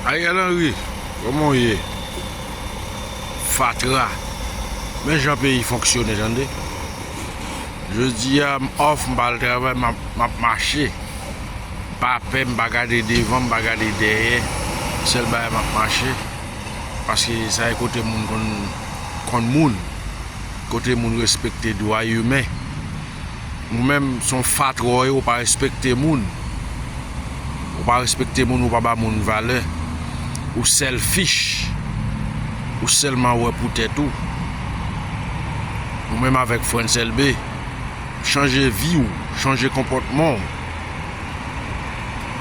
Ariel Henry koman w ye fatra men jan peyi fonksyone tande jodi a m off m pa al travay m ap mache m pa pè m pa gade devan m pa gade dèyè sèl bagay m ap mache paske sa e kote moun konn moun kote moun respekte dwa imen. Ou menm son fatra ou ye ou pa respekte moun ou pa respekte moun ou pa ba moun valè ou selfish ou selman wè pou tèt ou ou menm avèk frantz elbe chanje vi ou chanje konpòtman ou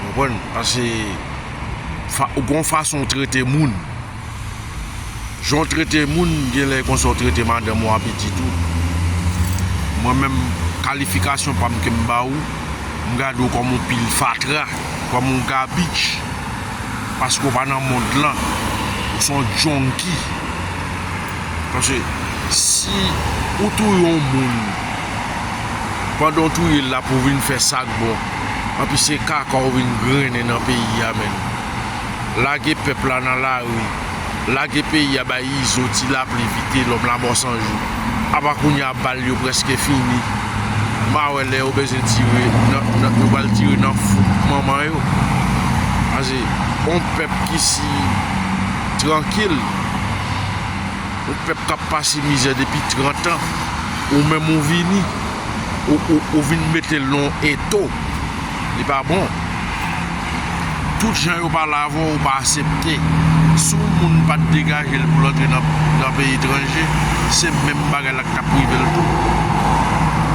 konprann pase ou gon fason ou trete moun. Jan w trete moun genlè e konsa w trete madanm ou a pitit ou. Mwen menm kalifikasyon pa m ke m ba ou, m gade w kòm yon pil fatra, kòm yon gabich paske w pa nan mond lan. Ou s on junky. Paske si ou touye yon moun, pandan w touye l la pou w vin fè sa k bon, anpi se kaka w vin grennen nan peyi a menn. Lage pèp la nan lari lage peyi a bay izo ti lapli vite lòm lamò sanjou apa kounya bal yo prèske fini ma wè lè yo bezwen tire nan yo pral tire nan fouk manman yo pase on pèp ki si trankil on pèp kap pase mizè depi 30 an ou menm ou vini ou vin metel nan on eto. Li pa bon. Tout jan yo pale avè w ou pa asepte. Si yon moun pa t degaje l pou l antre nan peyi etranje, se menm bagay la k t ap rive l tou.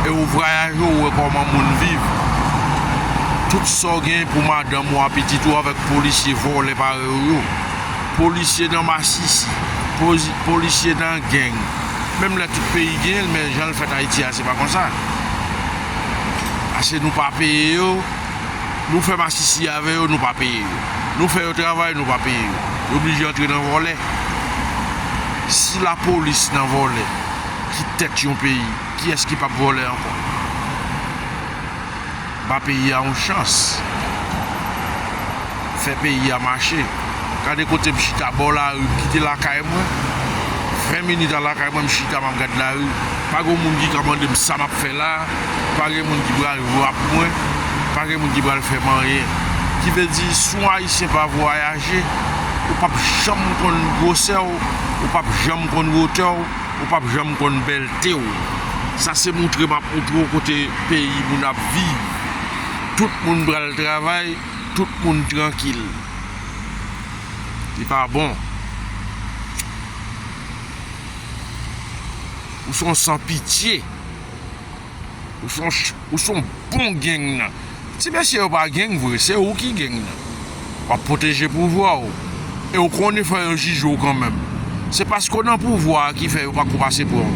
E ou vwayaje ou wè kòman moun viv. Tout sa w gen pou madanm ou a pitit ou avèk polisye vòlè parèy ou yo. Polisye nan masisi, polisye nan geng. Menm lè tout peyi gen l men jan l fèt Ayiti a se pa konsa. Paske nou pa peye yo Nou fè masisi avè yo nou pa peye yo Nou fè yo travay nou pa peye yo Yo blije antre nan vòlè Si lapolis nan vòlè ki tèt yon peyi kiyès ki pap vòlè ankò Ba peyi a yon chans. fè peyi a mache. Gade kote m chita bò lari, m kite lakay mwen, 20 minit a lakay mwen m chita m ap gad lari, pa gen yon moun ki ka mande m sa m ap fè la, pa gen moun ki pral wrap mwen, pa gen moun ki pral fè m anyen. Ki vle di si yon ayisyen pa vwayaje, ou pap janm konn gwosè w, ou pap janm konn wotè w, ou pap janm konn bèlte w. Sa se moutre m ap moutre w kote peyi moun ap viv. Tout moun pral travay. Tout moun trankil. Li pa bon. Ou son san pitye. Ou son bon gang nan. Ti mesye yo pa gang vre. Se ou ki gang nan. Wap pwoteje pouvwa ou. e ou konn yo fè yo jije w kanmenm se paske w nan pouvwa a ki fè yo pako pase pran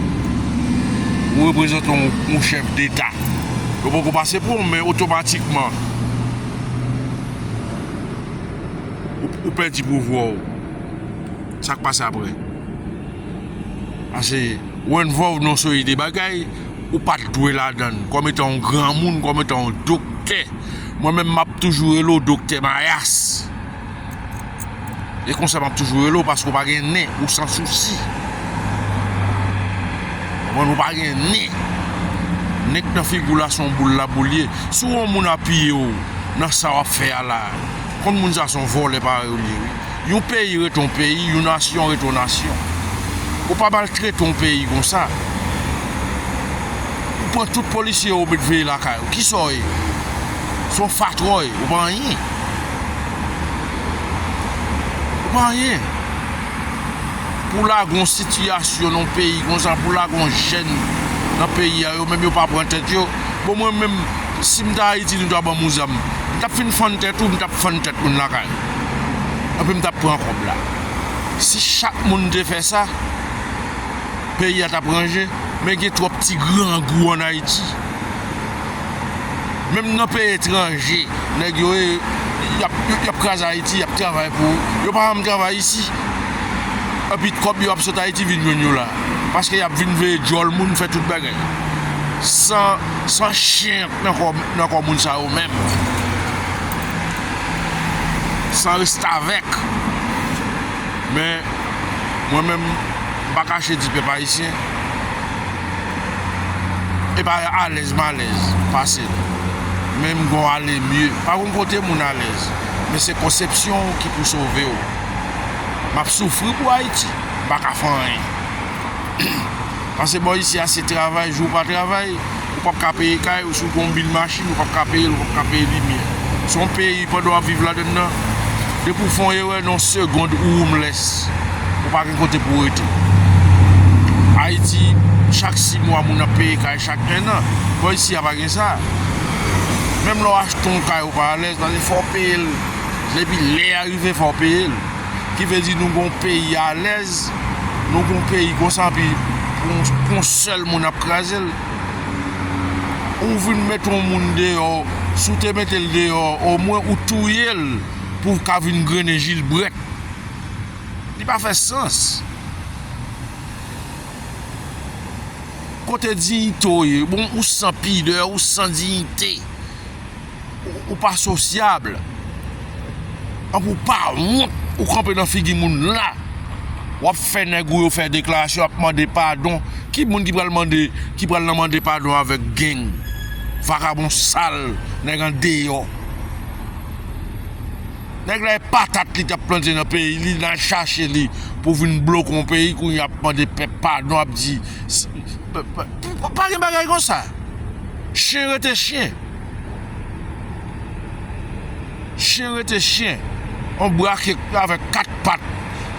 w ou reprezantan yon chèf deta yo poko pase pran w men otomatikman ou pèdi pouvwa w sak pase aprè ase ou envòlv nan yon seri de bagay ou pat dwe ladann kòm etan yon granmoun kòm etan yon doktè mwen menm map toujou rele w doktè mayas. E konsa map toujou rele w paske w pa gen nen, ou san sousi. Konprann ou pa gen nen. Nen k nan figi w la son boul laboul ye. Si w wè yon moun apiye w nan sa wap fè a la, konn moun sa son vòlè parèy w li ye wi. Yon peyi rete yon peyi, yon nasyon rete yon nasyon. Ou pa maltrete yon peyi konsa. Ou pran tout polisye yo ou met veye lakay ou. Kisa w ye? Son fatra w ye, ou pa anyen. Ou pa anyen. Pou lage yon sitiyasyon nan yon peyi konsa, pou lage yon jèn nan peyi a, yo menm yo pa pran tèt yo. Bon mwen menm, si m ta Ayiti, nou ta ban m yon zam, m t ap fin fann tèt ou, m t ap fann tèt moun lakay ou. Epi m t ap pran kòb la. Si chak moun te fè sa, peyi a t ap ranje. Men gen twòp ti grangou ann Ayiti. menm nan peyi etranje nèg yo ye yap kraze ayiti yap travay pou yo pa janm travay isi epi kòb yo ap sot ayiti vin jwenn yo la paske yap vin veye djòl moun fè tout bagay san san chyen ak nan kò nan kò moun sa yo menm san restavèk men mwen menm m pa kache di pèp ayisyen. epa alèz malèz pase l men m gon ale mye pa gon kote moun alèz men se konsepsyon w ki pou sove w map soufri pou ayiti m pa ka fè anyen pase bò isi a se travay jou w pa travay ou pap ka peye kay ou si w gon bil machine. Krim ou pap ka peyel ou pap ka peye limyè se yon peyi pandan wap viv ladann nan depi ou fon erè nan yon segond ou homeless ou pa gen kote pou rete ayiti chak 6 mwa moun ap peye kay chak 1 an bon isi ya pa gen sa menm lè w achte yon kay ou pa alèz paske fò w peyel depi lè ya rive fò w peyel ki vle di nou gen yon peyi alèz nou gen yon peyi konsa epi pou yon sèl moun ap krazel. ou vin met yon moun deyò si w te mete l deyò omwen ou touye l pou w ka vin grennen jilbrèt li pa fè sans kote diyite w ye bon ou san pidè ou san diyite. Ou pa sosyab. Ank ou pa wont ou kanpe nan figi moun la. Wap fè nèg ou yo fè deklarasyon ap mande padon. Ki moun ki pral mande ki pral nan mande padon avèk geng. Vakabon sal nèg an deyò. Nèg la e patat li tap plante nan peyi li nan chache li pou vin bloke yon peyi kounye a ap mande pèp padon ap di pa gen bagay konsa. Chyen rete chyen. Chyen rete chyen, yon brake avèk 4 pat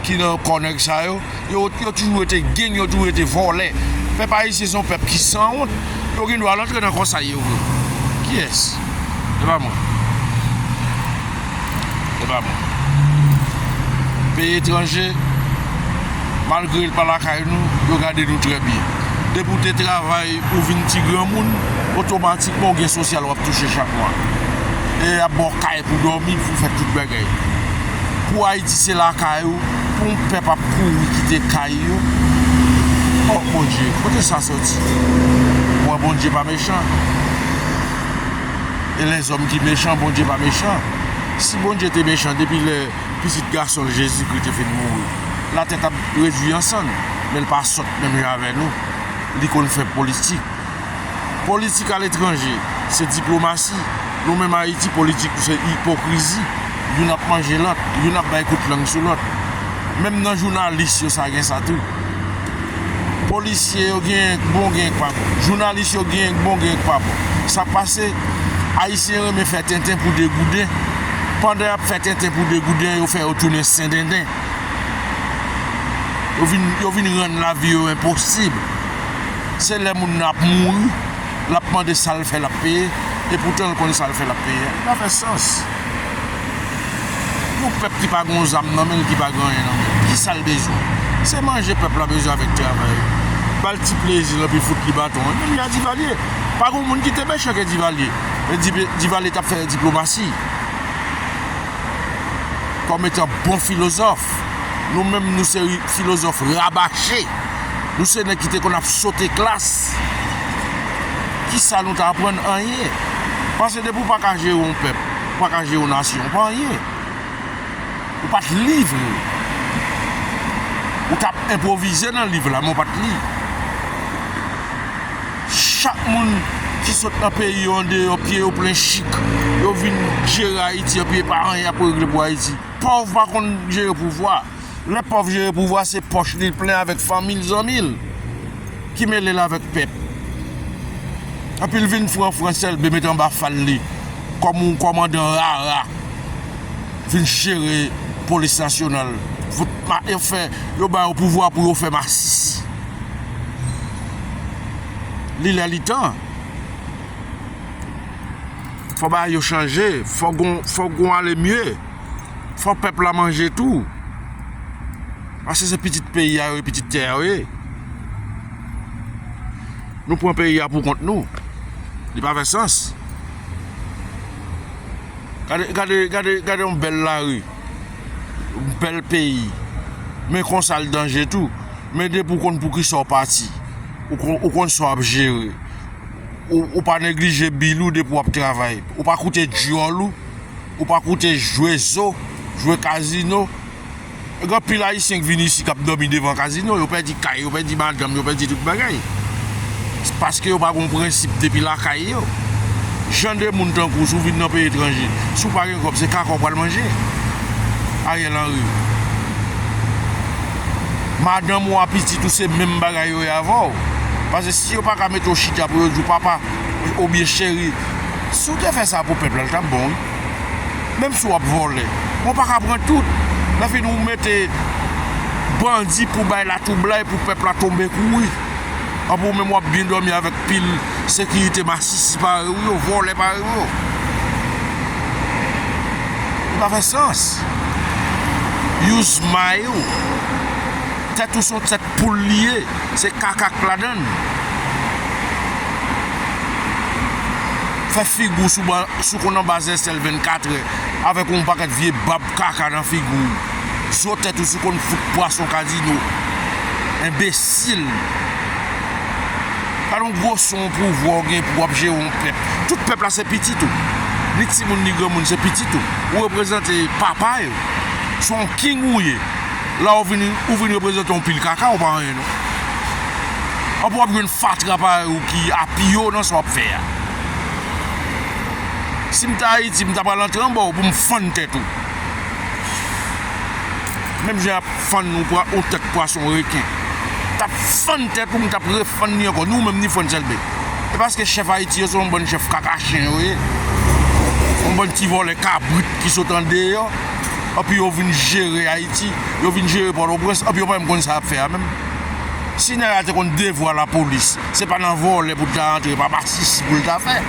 ki nan kò nèg sa yo, yo toujou rete geng, yo toujou rete vòlè. Pèp ayisyen se yon pèp ki san wont, yo gen dwa rantre nan kò sa yo vle. Kiyès? Se pa mwen. Se pa bon. Peyi etranje, malgre yo pa lakay nou, yo gade nou trè byen. Depi ou te travay, ou vin ti granmoun, otomatikman ou gen sosyal w ap touche chak mwa. E y ap ba w kay pou dòmi, pou fè tout bagay. Pou Ayiti se lakay ou, pou yon pèp ap kouri kite kay yo, oh Bondye, kote sa soti? Mwen Bondye pa mechan. e lèzòm ki mechan, Bondye pa mechan. Si Bondye te mechan depi lè Pitit Gason l Jezikri te fin mouri, latè t ap redui an sann. Men l pa sòt menm jan avè nou. Li konn fè politik. Politik aletranje se diplomasi. Nou menm Ayiti politik nou se ipokrizi. Youn ap manje lòt. Youn ap bay kout lang sou lòt. Menm nan jounalis yo sa gen sa tou. polisye yo genyen k bon genyen k pa bon jounalis yo genyen k bon genyen k pa bon sa k pase ayisyen renmen fè tenten pou degouden pandan yap fè tenten pou degouden yo fè yo tounen sendenden yo vin yo vin rann lavi yo enposib se lè moun nan ap mouri lap mande sal fè lap peye epoutan l konnen sal fè lap peye a li pa fè sans. Yon pèp ki pa gon zam nan menl ki pa gen anyen nan menl kisal bezwen se manje pèp la bezwen avèk travay bal ti plezil epi fout li baton menm jan a Divalye pa gon moun ki te mechan ke Divalye men Divalye tap fè diplomasi kòm etan bon filozòf nou menm nou se filozòf rabache nou se nèg ki te konn ap sote klas kisa nou ta aprann anyen pase depi ou paka jere yon pèp. Ou pa ka jere yon nasyon. Ou pa anyen. Ou pa t li vre. Ou t ap enpwovize nan liv la men ou pa t li. Chak moun ki sot nan peyi yo andeyò pye yo plen chik. Yo vin jere Ayiti epi e pa anyen y ap regle pou Ayiti. Pòv pa konn jere pouvwa. Lè pòv jere pouvwa se pòch li plen avèk fanmi l zanmi l ki mele l avèk pèp epi l vin franfran selbe met anba fal li kòm yon kòmandan rara vin jere polis nasyonal yo ba yo pouvwa pou yo fè masis li lè li tan fò bagay yo chanje fò gon ale mye. fò pèp la manje tou. Paske se pitit peyi a yo ye, pitit tè a yo ye. Nou pran peyi a pou kont nou. Li pa fè sans. Gade, gade, gade, gade yon bèl lari. Yon bèl peyi. Men konsa l danje tou. Men depi w konn pou ki sa w pati. Ou konn sa w ap jere. Ou pa neglije bil ou depi w ap travay. Ou pa koute dyòl ou. Ou pa koute jwe zo, jwe kazino. Gen anpil ayisyen ki vini isi k ap dòmi devan kazino. Yo pèdi kay, yo pèdi madanm, yo pèdi tout bagay. Se paske yo pa gen yon prensip depi lakay yo. Jan de moun tankou w si w vin nan peyi etranje, si w pa gen kòb se kaka w pral manje. Ariel Henry. Madanm ou a pitit ou se menm bagay yo ye avè w. Pase si yo pa ka mete w chita pou yo di w papa obyen cheri. Si w te fè sa pou pèp la l tap bon wi menm si wap vòlè men w paka pran tout nan fin ou mete bandi pou bay latwoublay pou pèp la tonbe kouri anpi w menm wap byen dòmi avèk pil sekirite masisi parèy ou yo vòlè parèy ou yo li pa fè sans use may ou tèt ou son tèt Poul li ye se kaka k ladann. Fè figou sou konn anba zèsèl 24 è avèk yon pakèt vye bab kaka nan figou w. Zo tèt ou sou konn fout pwason kazino. Enbesil. Gad yon gwo son pouvwa w gen pou wap jere yon pèp. Tout pèp la se pitit ou. Ni timoun ni granmoun se pitit ou. Ou reprezante papa yo. Se yon king ou ye. La ou vin ou vin reprezante yon pil kaka ou pa anyen non. Anpou wap jwenn fatra parèy ou ki a pi yo nan sa wap fè a. Sim ta Ayiti m ta pral antre anba ou pou m fann tèt ou. Menm jan yap fann ou pwa ou tèt pwason reken. Tap fann tèt ou m tap refann li ankò ni ou menm ni Frantz Elbe. E paske chèf Ayiti yo se yon bann chèf kaka chen yo ye. Yon bann ti vòlè kabrit ki sot andeyò. epi yo vin jere Ayiti, yo vin jere Pòtoprens epi yo pa menm konn sa y ap fè a menm. Si nèg la te konn devwa lapolis, se pa nan vòlè pou l ta antre, pa masisi pou l ta fè.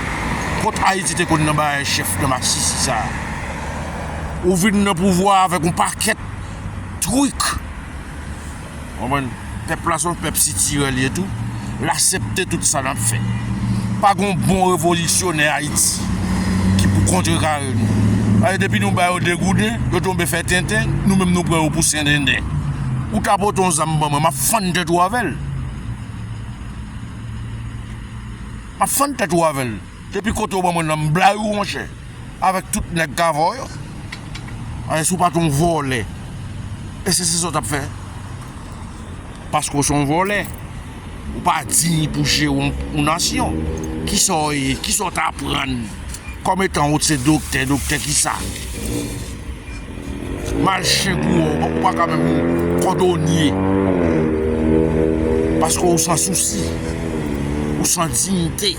Kot Ayiti te konn nan bagay chèf nan masisi sa a? Ou vin nan pouvwa a avèk yon pakèt trik. Konprann? Pèp la se yon pèp sitirè li ye tou. L asepte tout sa n ap fè. Pa gen yon bon revolisyonè Ayiti ki pou kontrekare nou. Paske depi nou ba yo degouden, yo tonbe fè tenten, nou menm nou pran yo pou sendenden. Ou ta pote yon zam ban mwen, m ap fann tèt ou avè l. M ap fann tèt ou avè l. Depi kote ou ban mwen l la, m bla ou monchè. Avèk tout nèg k avè w yo. Alè si w pa t yon vòlè. Èske se sa w t ap fè? Paske w se yon vòlè. Ou pa diy pou jere yon nasyon. Ki sa w ye? Ki sa w t aprann? Kòm etan ou se doktè, doktè ki sa? Mal chen kou wè w, ou pa ka menm kòdonye. Paske w san sousi. Ou san diyite.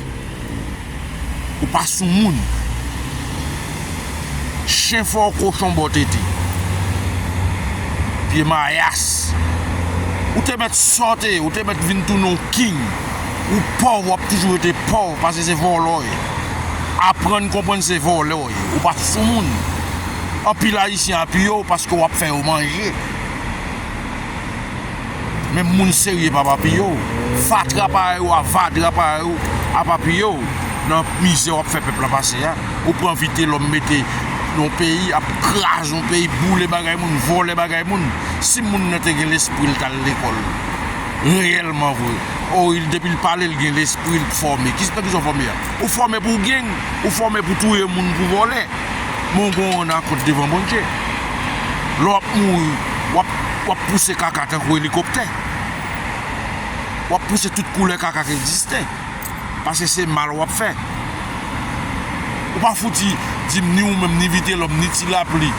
Ou pa sou moun. Chen fè w kochon bò tete. Vye mayas. Ou te mèt sòte, ou te mèt vin tounen w king. Ou pòv, w ap toujou rete pòv pase se vòlò w ye. Aprann konprann se vòlè w ye. Ou pa sou moun. Anpil ayisyen apiye w paske w ap fè yo manje. Menm moun serye pa papiye w. Fatra parèy ou a vadra parèy ou a papiye w nan mizè w ap fè pèp la pase a. Ou pran vitelòm mete nan yon peyi, ap kraze yon peyi, boule bagay moun, vòlè bagay moun. Si moun nan te gen lespri l t al lekòl reyèlman vre. O il depi l pale l gen lespri l fòme. Nan kisa w fòme a? Ou fòme pou w geng, ou fòme pou w touye moun, pou w vòlè. Bon gon wonn akont devan Bondye. Lè w ap mouri, w ap pouse kaka tankou elikoptè. W ap pouse tout koulè kaka ki egziste. Pase se mal w ap fè. Ou pa fouti di m ni ou menm, ni Vitelòm, ni Ti Lapli,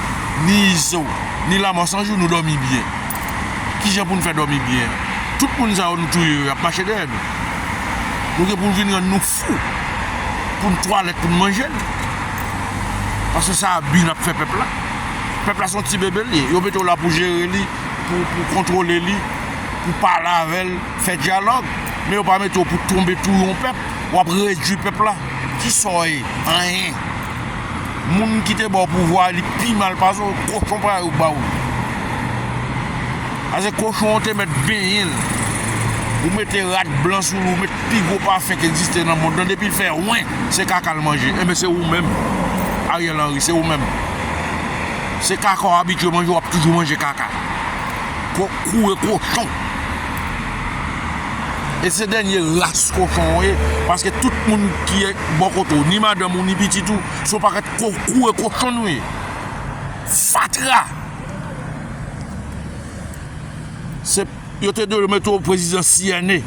ni Izo, ni Lamò 100 jou nou dòmi byen. Ki jan pou n fè dòmi byen? Tout moun sa yo nou touye yo, y ap mache dèyè nou. Nou gen pou n vin rann nou fou. Tou. Pou n twalèt pou n manje l. Paske sa a bi n ap fè pèp la. Pèp la se yon ti bebe l ye. Yo mete w la pou jere li, pou kontwole li, pou pale avè l, fè dyalòg. Men yo pa mete w pou tonbe tou yon pèp. W ap redui pèp la. Ki sa w ye? Anyen. Moun ki te ba w pouvwa a li pi mal pase w. Kochon parèy ou ba w. Paske kochon an te mèt benyen l. Ou mete rad blan sou li. Pi gwo pafen ki egziste nan mond lan depi l fè wen se kaka l manje enben se ou menm Ariel Henry se ou menm se kaka w abitye manje w ap toujou manje kaka ko koure kochon e se dènye ras kochon w ye paske tout moun ki ye bò kote w ni madanm ou ni pitit ou se yon pakèt ko koure kochon nou ye fatra se. Yo te dwe mete w prezidan CNE.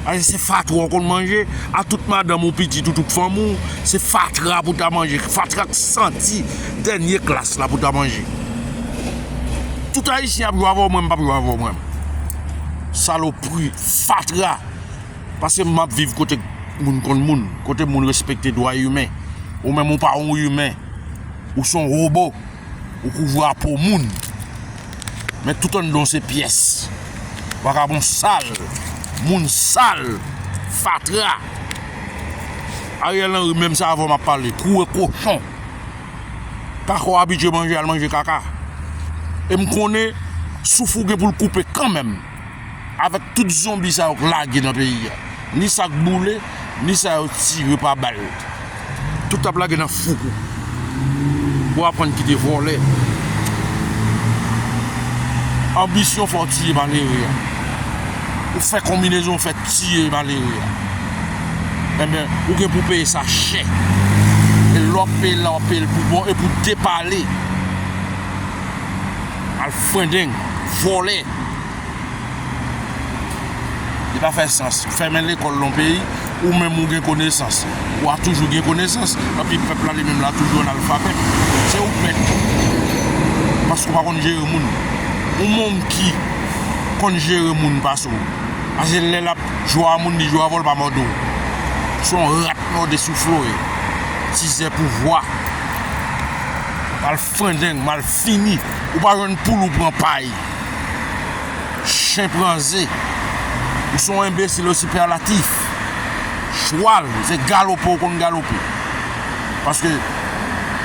Aze se fatra w konn manje a tout madanm ou pitit ou tout fanmi w. Se fatra pou w ta manje. Fatra ak santi dènye klas la pou w ta manje. Tout ayisyen ap jwe avè w mwen m pap jwe avè w mwen. Salopri, fatra. Pase m map viv kote moun konn moun. Kote moun respekte dwa imen. Ou menm ou pa yon imen. Ou son robo. Ou kouvri a po moun. Men tout anndan w se pyès. Vakabon sal. Moun sal. Fatra. Ariel Henry menm sa avè w m ap pale. Koure kochon. Kaka w abitye manje al manje kaka. E m konnen souf ou gen pou l koupe kanmenm. Avèk tout zonbi sa yo k lage nan peyi a, ni sa k boule, ni sa yo tire pa bal, tout ap lage nan foukou pou aprann kite vòlè. Anbisyon fè w tiye malere a. Ou fè konbinezon ou fè tiye malere a. Enben, ou gen pou w peye sa chè. E lè w ap peye l la, w ap peye l pou bon e pou depale. Al frendeng, vòlè. Li pa fè sans, ou fèmen lekòl nan yon peyi, ou menm ou gen konesans, ou a toujou gen konesans, epi pèp la li menm la toujou analfabèt. Se ou k mèt. Paske ou pa konn jere moun. Yon monkey konn jere moun pase w. Pase lè l ap jwe a moun, li jwe avè w, l pa mòde w. Se yon rat mòde soufle w ye. Tizè pouvwa. Frangeng mal fini ou pa jwenn poul ou pran pay Chen pran ze ou son enbesil ou sipèlatif Chwal se galope ou konn galope Paske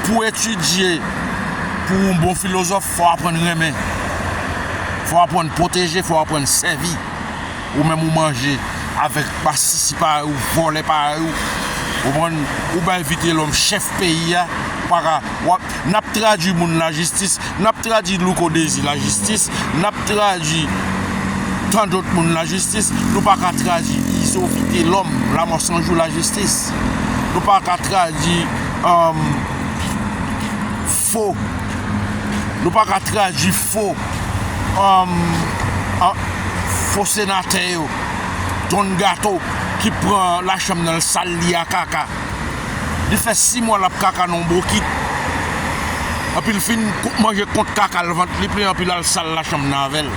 pou etidye pou ou bon filozòf fò aprann renmen Fò aprann pwoteje fò aprann sèvi. ou menm ou manje avèk basisi parèy ou vòlè parèy ou ou konprann ou bay vitelòm chèf peyi a ou paka wap nap tradwi moun lajistis nap tradwi louko dezi lajistis nap tradwi tandòt moun lajistis nou paka tradwi izo vitelòm lamò san jou lajistis nou paka tradwi anm. Fo. Nou pa ka tradwi fo an fo senatè yo. Don gato ki pran la chanm nan l sal li a kaka. Li fè 6 mwa lap kaka nan yon bokit. Epi li fin manje kont kaka l vant li plen epi lal sal la chanm nan avèl.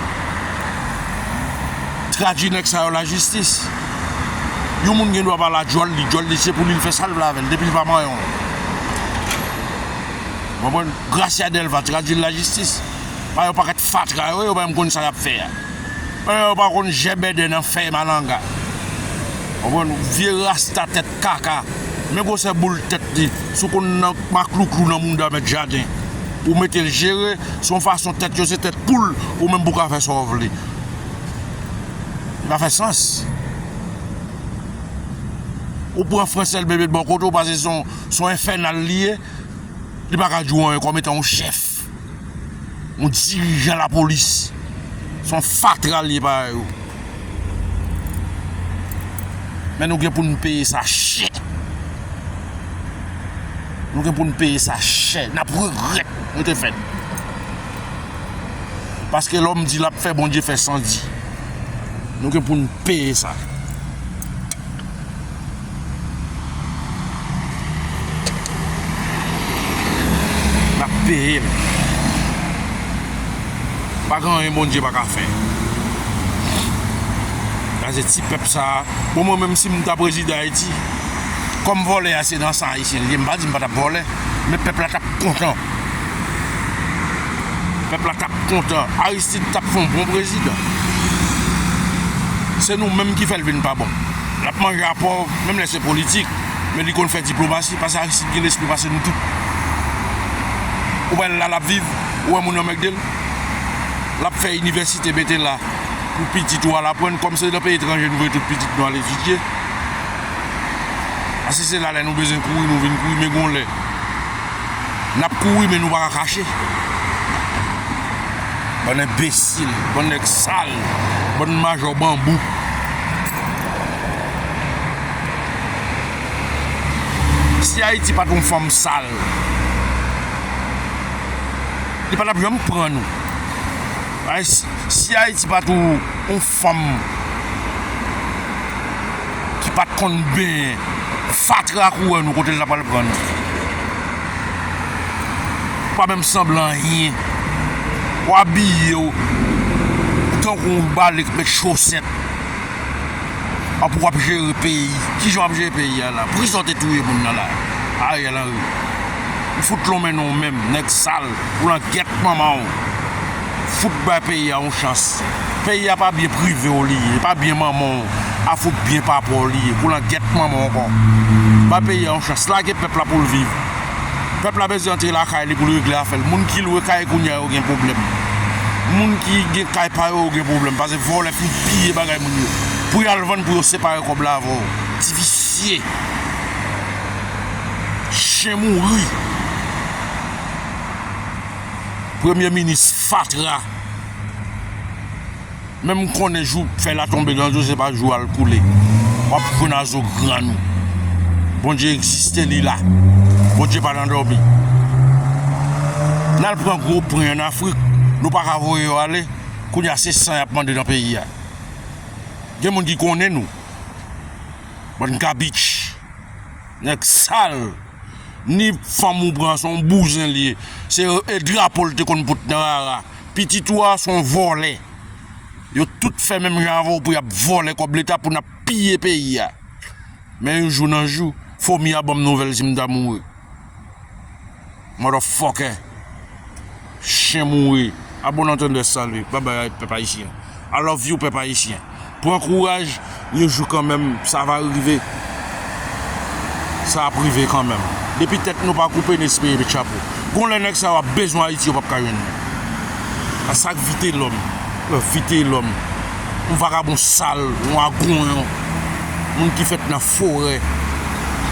Tradwi nèg sa yo la jistis. Yon moun gen dwa pa la djòl li, djòl li se pou li l fè sal vle avèl depi l pa manyen w. Ou konprann? Gracia Delva tradwi l lajistis. Pa yon pakèt fatra yo ye, yo pa menm konn sa y ap fè a. An yo pa konn jèbèdè nan fèy malanga. Ou konprann? Vye rasta tèt kaka. Men gwosè boul tèt li. Si w konn nan maklouklou nan mouda mèt jaden, ou mete l jere. Se yon fason tèt yo se tèt poul ou menm pou w ka fè sa w vle. Li pa fè sans. Ou pran Francel Bébé bò kote w pase se yon. Son enfènal li ye, li pa ka di w anyen kòm etan yon chèf, yon dirijan lapolis. Son fatra li ye parèy ou. Men nou gen pou nou peye sa chè. Nou gen pou nou peye sa chè. N ap regrèt nou te fèt. Paske lòm di l ap fè, Bondye fè san di. Nou gen pou nou peye sa. Lap peyel. Pa gen anyen Bondye pa ka fè. Gaze ti pèp sa. Bon mwen menm sim ta prezidan Ayiti. Kòm vòlè a se nan san ayisyen li ye. M pa di m pa tap vòlè. Men pèp la tap kontan. Pèp la tap kontan. Aristide tap fon bon prezidan. Se nou menm ki fèl vin pa bon. Lap manje a pòv menm lè se politik men li konn fè diplomasi pase Aristide gen lespri pase nou tout ou pa wè lè lap viv ou wè moun anmègdel lap fè inivèsite mete la pou pitit ou al aprann kòm se nan peyi etranje nou voye tout pitit nou al etidye pase se la lè nou bezwen kouri nou vin kouri men gon lè nap kouri men nou paka kache bann enbesil bann nèg sal bann majò banbou. Si Ayiti pat yon fanm sal, li pa tap janm pran nou. Si Ayiti pat yon fanm ki pat konn benyen, fatra kouwè nou kote li tap al pran nou. Ou pa menm sanble anyen. Ou abiye w tankou yon bale ki met chosèt. An pou wap jere peyi kijan wap jere peyi a la poukisa ou te touye moun nan la Ariel Henry m fout lonmen non ou menm nèg sal ou langèt manman w fout bay peyi a yon chans peyi a pa byen prive w li ye pa byen manman w a fout byen papa w li ye kou langèt manman w ankò bay peyi a yon chans lage pèp la pou l viv. Pèp la bezwen antre lakay li pou l regle afè l. Moun ki lwe kay kounye a yo gen pwoblèm. Moun ki gen kay pa yo yo gen pwoblèm pase vòlè fin piye bagay moun yo pou y al vann pou yo separe kòb la avè w. Ti visye. Chen mouri. Premye minis fatra. menm konnen jou fèy la tonbe nan zo se pa jou al koule wap jwenn a zo grann ou Bondye egziste li la Bondye pa nan dòmi nal pran gwo pwen an afrik nou paka voye yo ale kounye a se san yap mande nan peyi a gen moun ki konnen nou bann kabich nèg sal ni fanm ou pran son bouzen li ye se e drapo li te konn pot nan rara. Pitit ou a son vòlè. Yo tout fè menm jan avèw pou yap vòlè kòb leta pou nap piye peyi a. Men yon jou nan jou fomi a banm nouvèl si m ta mouri. Motherfucker. Chien mouri. A bon entendeur salut. Bye bye pèp ayisyen. I love you pèp ayisyen. Pran kouraj yon jou kanmenm sa va rive sa ap rive kanmenm depi tèt nou pa koupe n espere met chapo gon lè nèg sa yo ap bezwen ayiti yo pap ka jwenn li a sak vitelòm vitelòm yon vagabon sal yon agon yon moun ki fèt nan forè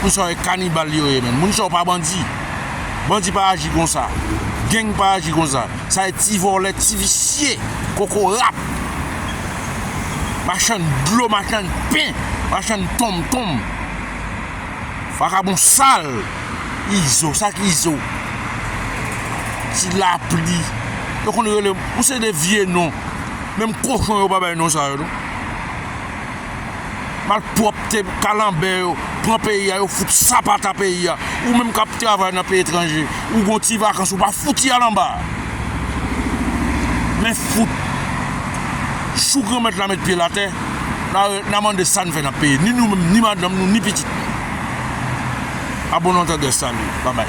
moun sa yo e kanibal yo ye menm moun sa yo pa bandi bandi pa aji konsa geng pa aji konsa. Sa e ti vòlè ti visye kokorat machann dlo machann pen machann tonm tonm vakabon sal izo sa ki izo ti lapli yo konn rele ou se de vye non menm kochon yo pa bay non sa yo non. malpwòpte kalanbè yo pran peyi a yo fout sapata peyi a ou menm kap travay nan peyi etranje ou gon ti vakans ou pa fouti al anba men fout chou granmèt la met pyel atè na mande sa nou fè nan peyi ni nou menm ni madanm nou ni pitit nou a bon antèdè salut babay.